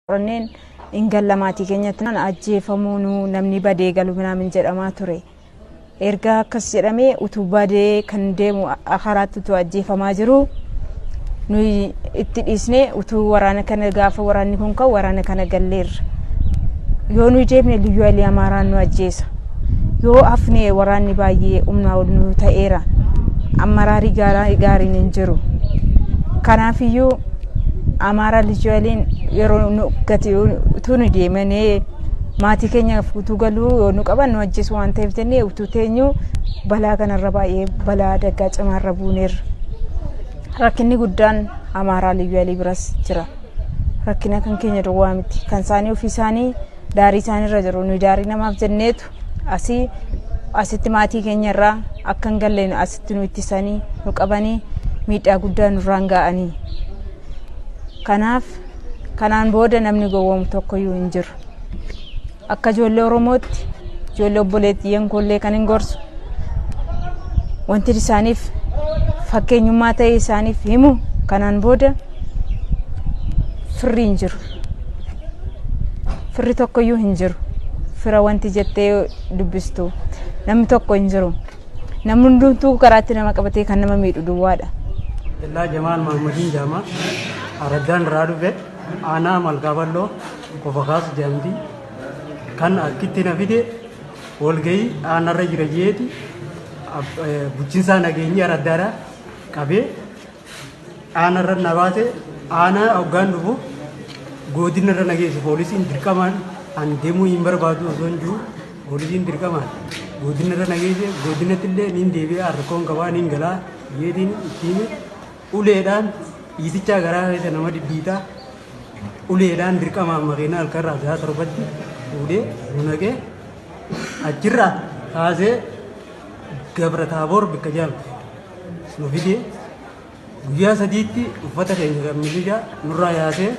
Warranneen hin galla maatii keenyatti naan ajjeefamuu nu namni badee galu minaamin jedhamaa ture. Erga akkas jedhamee utuu badee kan deemu karaatti utuu ajjeefamaa jiru nuyi itti dhiisnee utuu waraana kana gaafa waraanni kun ka'u waraana kana galleerra. Yoo nuyi deemne liyyuu alii amaaraan nu ajjeesa. Yoo hafne waraanni baay'ee humnaa ol nu ta'eera. Ammaraarii gaariin hin jiru. Kanaafiyyuu Amaaraa Lijuu Haayiliin yeroo nu gati utuu nu deemanee maatii keenyaaf utuu galuu yoo nu qaban nu ajjeesu waan ta'eef jennee utuu teenyu balaa kanarra baay'ee balaa adaggaa cimaarra buuneerra. Rakkinni guddaan Amaaraa Lijuu Haayilii biras jira. Rakkina kan keenya duwwaa miti. Kan isaanii ofii isaanii daarii isaaniirra jiru. Nu daarii namaaf jenneetu asii asitti maatii keenya irraa akka hin galle nu- asitti nu ittisanii nu qabanii miidhaa guddaa nurraan ga'anii kanaaf kanaan booda namni gowwoomu tokkoyyuu hin jiru akka ijoollee oromootti ijoollee obboleettiyyeen koollee kan hin gorsu wanti isaaniif fakkeenyummaa ta'e isaaniif himu kanaan booda firri hin jiru firri tokkoyyuu hin jiru fira wanti jettee dubbistu namni tokko hin jiru namni hundumtuu karaatti nama qabatee kan nama miidhu duwwaadha. Illaa Jamaal Maammadin Jaamaa Araddaan irraa dhufe aanaa Malkaaballoo qofa kaasu jedhamti. Kan akkitti na fide walgahii aanarra jira jeeti bulchiinsaa nageenyi araddaadha qabee Aanarra na baate aanaa hoggaan dhufu godinarra na geessu poolisiin dirqamaan an deemuu hin barbaadu osoo hin jiru poolisiin dirqamaan godinarra na geesse godinatti illee niin deebi'aa rakkoon qabaa niin galaa yeetiin ittiin uleedhaan dhiitichaa garaa keessa nama dhidhiitaa uleedhaan dirqamaan makiina halkarraa isaa torbatti fuudhee nu naqee achirraa kaasee gabra taaboor bikka jaamte. nu fide guyyaa sadiitti uffata keenya kan milishaa nurraa yaasee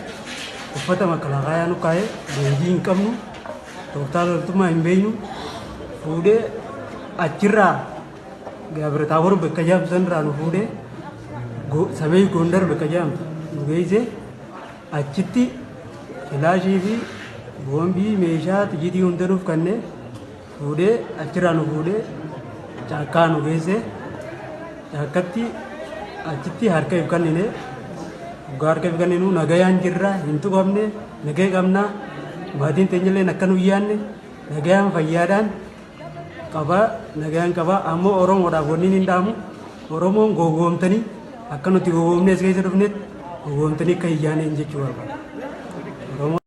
uffata makalakaayaa nu kaa'ee leenjii hin qabnu tooftaa loltummaa hin beeknu fuudhee achirraa gaabirataabor bakka jaamtu sanirraa nu fuudhee go- samee gondar bakka jaamtu nu geessee achitti filaashii fi boombii meeshaa xiyyitii hunda nuuf kannee Fuudhee achirraa nu fuudhee caakkaa nu geessee caakkatti achitti harka if kennine dhugaa harka if kenninu nagayaan jirra hin tuqamne nagaya qabna maatiin teenyalleen akka nu yaanne nagayaan fayyaadhaan qaba nagayaan qaba ammoo oromoodhaaf wanni hin dhaamu oromoon gowwoomtanii akka nuti gowwoomne as keessa dhufnetti gowwoomtanii akka hin yaaneen jechuu barbaada.